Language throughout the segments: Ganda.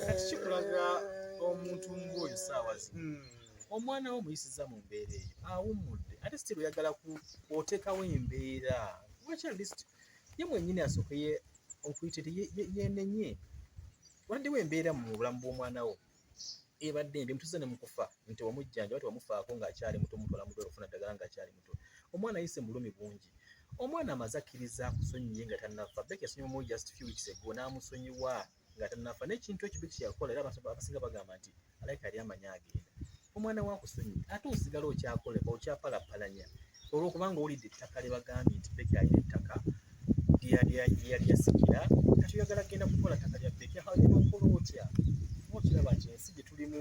kati kikulaga omuntu ng'oyo saawa zino hmm. omwana wo muyisiza mu mbeera eyo awummudde ate sitiri oyagala otekawo embeera lwaki alist ye mwenyini asokeye okuyita ti yenenye wandiwo embeera mu bulamu bw'omwana wo ebadde embi mutuze ne mukufa nti wamujjanja wati wamufaako ng'akyali muto mutwala mudwala okufuna ddagala ng'akyali mutwe omwana yise mulumi bungi omwana amaze akkiriza akusonyiye nga tannafa beki yasonyiwa mu just few weeks ago n'amusonyiwa nga tannafa n'ekintu ekyo beki yakola era abasinga bagamba nti alaika yali amanyi agenda omwana wakusonyiye ate osigala okyakoleba okyapalapalanya olwokubanga owulidde ettaka lyebagambye nti beki alina ettaka lyeyasikira kati oyagala kugenda kukola ttaka lya beki aokola otya okiraba nti ensi gye tulimu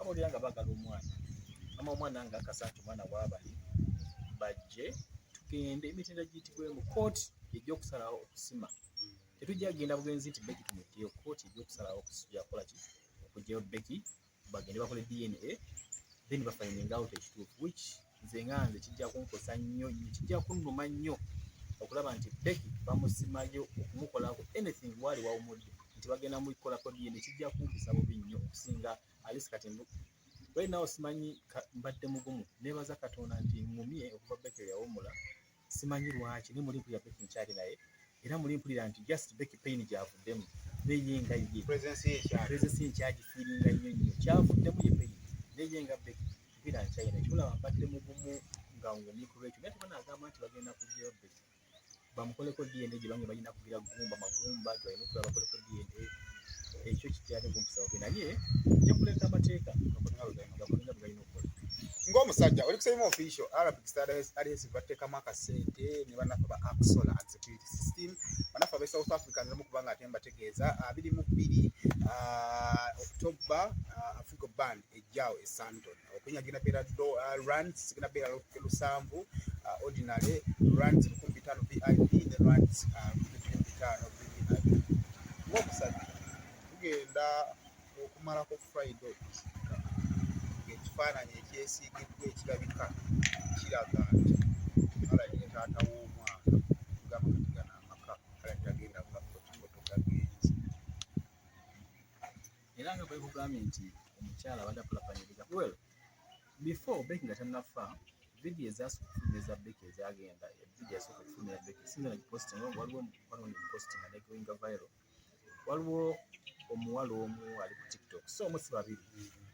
abo lya nga bagala omwana ama omwana nga akasa nti omwana wabali bajje tugende emitenda giyitibwe mu kooti ejja okusalawo okusima tetujja kugenda bugenzi nti beki tumutteyo kooti ejja okusalawo okusijakola ki okugyayo beki bagende bakole dna then bafainenga out ekituufu which nze nga nze kijja kunkosa nnyo nnyo kijja kunnuma nnyo okulaba nti Becky bamusimayo okumukolako anything waali wawumudde nti bagenda mukolako DNA kijja kumpisa bubi nnyo okusinga alisi kati right now simanyi mbadde mugumu nebaza katonda nti ngumye okuva Becky yawumula simanyi lwaki ne muli mpulira Becky nkyali naye era muli mpulira nti just Becky pain gyavuddemu neye nga ye presence ye nkyagifiiringa nnyo nnyo kyavuddemu ye pain neye nga Becky mpulira nkyayi naye kikulaba mbadde mugumu nga ngumye ku lwekyo naye tebana agamba nti bagenda kujjayo Becky bamukoleko DNA gye bange balina kugira gumba magumba gye balina okuba bakoleko DNA ekyo kikyali kumpisa naye nja kuleka amateeka gakolina bwe galina ng'omusajja oli kusema official arabic studies alies bateekamu akasente ne banafa ba axola and security system banafa abe south africa nzimu kubanga ate mbategeeza abiri mu bbiri ah, october ah, africa band ejjaawo e santon okunya gina beera ah, rand sigina beera lusanvu ordinary rand lukumi bitaano vip ne rand lukumi bitaano vip ng'omusajja tugenda okumalako friday okuziika ng'ekifaananyi ekyesiigiddwa ekirabika kiraga nti alabye taata w'omwana gamba kati gana amaka alabye agenda kugafotofoto gagenzi era nga bwekugambye nti omukyala abadde akulapanyiriza well before beki nga tannafa vidiyo ezasukufumeza beki ezagenda vidiyo yasooka okufumira beki singa nagipostinga waliwo mukwano wange mupostinga negoinga viral waliwo omuwala omu ali ku tiktok so omu si babiri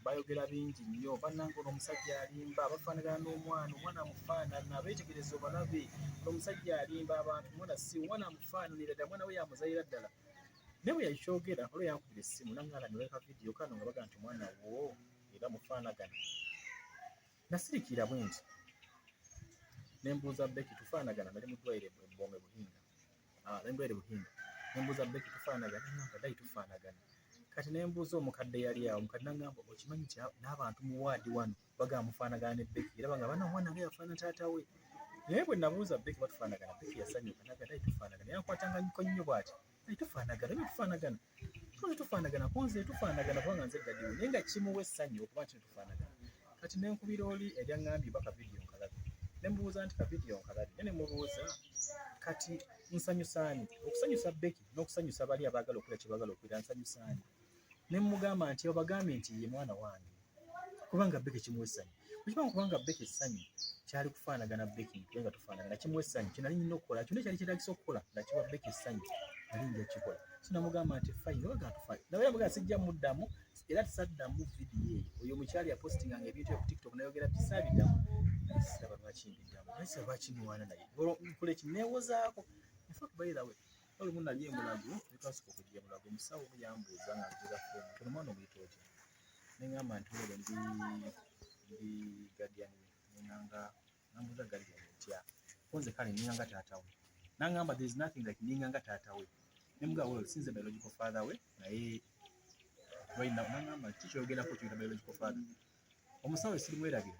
bayogera bingi nnyo bannanga ono omusajja alimba bafaanagana n'omwana omwana amufaanana beetegereza obalabe omusajja alimba abantu omwana si omwana amufaananira ddala omwana we yamuzalira ddala naye bwe yakyogera olwo yankubira essimu nangala neweka vidiyo kano nga baga nti omwana wo era mufaanagana nasirikira bwe nti ne mbuuza beki tufaanagana nali mu ddwayire bwebome buhinga ah, lendwere buhinde nembuuza beki tufaanagana namba dai tufaanagana kati nembuuza omukadde yali awo omukadde nangamba okimanyi kya n'abantu mu waadi wano bagamba mufaanagana ne beki era bagamba na omwana nga yafaana taata we naye bwe nabuuza beki batufaanagana beki yasanyuka naga dai tufaanagana yankwatanga nyiko nnyo bwati dai tufaanagana ebyo tufaanagana tuli tufaanagana kunze tufaanagana kubanga nze dadiwe naye nga kimuwa essanyu okuba nti tufaanagana kati nenkubira oli eryaŋambye oba kavidiyo nkalabi nemubuuza nti kavidiyo nkalabi naye nemubuuza kati nsanyusaani okusanyusa beki n'okusanyusa bali abaagala okola kyebagala okwira nsanyusaani nemugamba nti obagambye nti ye mwana wange kubanga beke kimuwa essanyu bwekibanga kubanga beke essanyu kyali kufaanagana beke ntuye nga tufaanagana kimuwa essanyu kyenali nyina okukola kyona ekyali kyetagisa okukola nga kiwa beke essanyu ali nja kikola so namugamba nti fayina oba gatufayo nawe yamugamba sijja muddamu era tisaddamu vidiyo eyo oyo omukyali yapostinganga ebintu eyo ku tiktok nayogera tisabiddamu siraba lwaki mbiddamu naye siraba lwaki muwaana naye olwo nkola eki neewozaako infact by the way olumu nali emulago netwasooka okujja emulago omusawo yambuuza nga nzira foomu tono mwana omuyita otya nengamba nti wele ndi ndi guardian nenganga nambuza guardian ntya konze kale nenganga taata we nangamba there is nothing like nenganga taata we nemuga well since my logical father we naye right now nangamba kiki oyogerako kyoyita biological father omusawo esirimweragira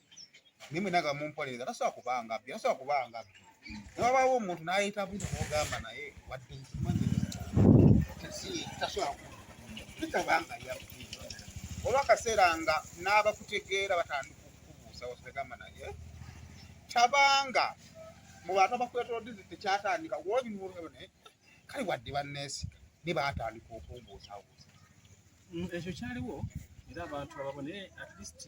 mimi naga mumpolereza tasobola kuba ngabbi tasobola kuba ngabbi newabaawo omuntu nayita buti nogamba naye wadde nkimanyi tasobola kitaba nga yabbi olwakaseera nga n'abakutegeera batandika okukubuuza wategamba naye tabanga mu bantu abakwetolodde tekyatandika wolinulne kale wadde banneesiga ne baatandika okumbuusabuusa mm, ekyo kyaliwo era abantu ababone at least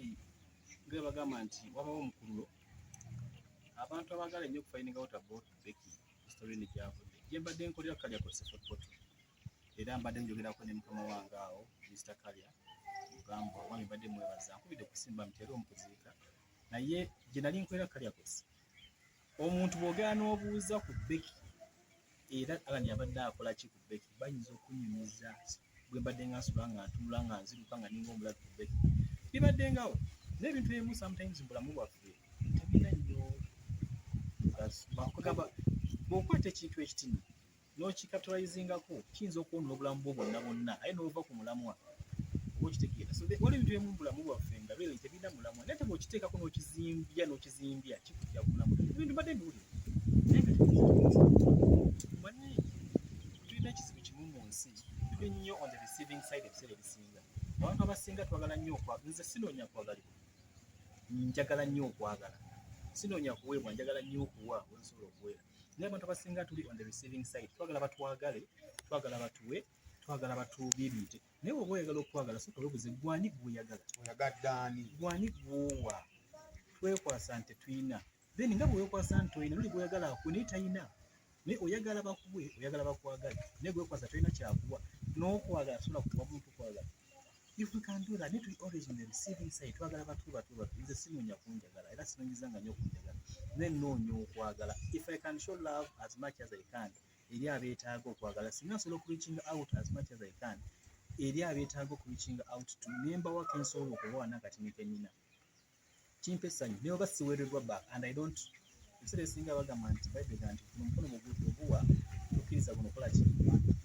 Nga bagamba nti wabawo omukululo abantu abagala ennyo okufayininga wota bootu beki sitorini gyavudde gye mbadde nkolera ku kalya kose fotopoto era mbadde njogerako ne mukama wange awo misita kalya mugamba omwami mbadde mwebaza nkubidde kusimba mutera omukuziika naye gye nali nkolera kalya kose omuntu bwogera n'obuuza ku beki era alani abadde akola ki ku beki bayinza okunyumiza bwe mbadde nga nsula nga ntunula nga nziruka nga ninga omulabi ku beki bibadde ngawo n'ebintu ebimu sometimes mbulamu bwaffe tebina nnyo bwokwata ekintu ekitini n'okikatulizingako kiyinza okwonona obulamu bwo bwonna bwonna aye n'ova ku mulamwa oba okitegeera so wali ebintu ebimu bulamu bwaffe nga byo tebirina mulamwa naye teba okiteekako n'okizimbya n'okizimbya kikujja ku mulamwa ebintu mbadde mbiwulira naye nga manye tulina ekizibu kimu mu nsi tuli nnyo on the receiving side ebiseera ebisinga abantu abasinga twagala nnyo okwagala nze sinoonya kwagalibwa njagala nnyo okwagala sinoonya kuweebwa njagala nnyo okuwa wensobola okuweera naye abantu abasinga tuli on the receiving side twagala batwagale twagala batuwe twagala batuubiirire naye oba oyagala okwagala soka webuze gwani gwoyagala oyagaddaani gwani gwowa twekwasa nti tuyina then nga bwewekwasa nti oyina noli gwoyagala akuwe naye tayina naye oyagala bakuwe oyagala bakwagale naye gwekwasa tolina kyakuwa n'okwagala sobola kuwa muntu kwagala if we can do that need to be always on the receiving side twagala batu batu batu nze sinoonya kunjagala era sinonyezanga nnyo kunjagala ne noonya okwagala if i can show love as much as i can eri abeetaaga okwagala singa nsobola okureachinga out as much as i can eri abeetaaga okureachinga out to nembawa kensobola okubawa nakati nekenyina kimpa essanyu ne oba siweereddwa back and i don't ebiseera ebisinga bagamba nti baibega nti guno mukono mugudu oguwa tokkiriza guno kola ki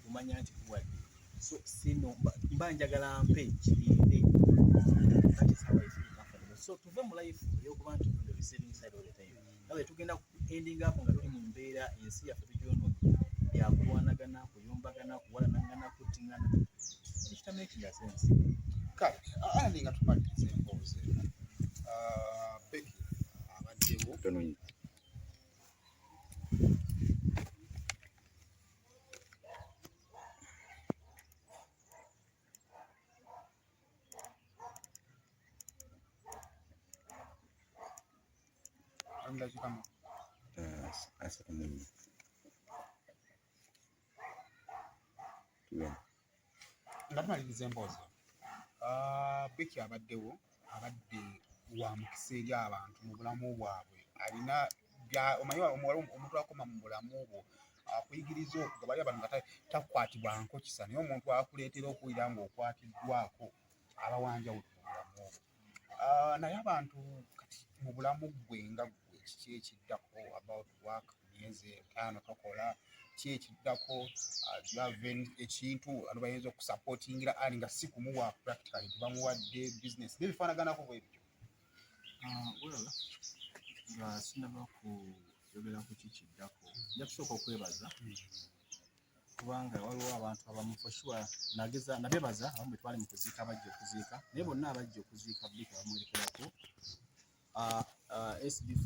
omanya nti guwadde so sino mba njagala mpe kirinde so tuve mu life eyokuba nti receiving side all the time nawe tugenda ku ending up nga tuli mu mbeera ensi yaffe tugyonoona byakulwanagana kuyombagana kuwalanagana kuttingana ekitama ekinga sensi kale andi nga tumaliriza emboozi eno ah, beki abaddewo nga tumaliriza emboozi ah, biki abaddewo abadde wa mukisa eri abantu mu bulamu bwabwe alina omanyi omuntu akoma mu bulamu bwo akuyigiriza okuga bali abantu nga takwatibwa nkokisa naye omuntu akuleetera okuwulira ng'okwatiddwako abawanjawulo mu bulamu bwo ah, naye abantu kati mu bulamu gwe nga gwe kiki ekiddako about work myezi etaano tokola ki ekiddako ah, javen ekintu ano bayinza okusupportingira ali nga si kumuwa practically tebamuwadde business nebifaanaganako bwebityo ah, nga sinaba kuyogera ku kikiddako nja kusooka okwebaza hmm. kubanga waliwo abantu abamu for sure nageza nabebaza abamu betwali mu kuziika abajja okuziika naye bonna abajja okuziika bika bamuwerekerako uh, uh, SB4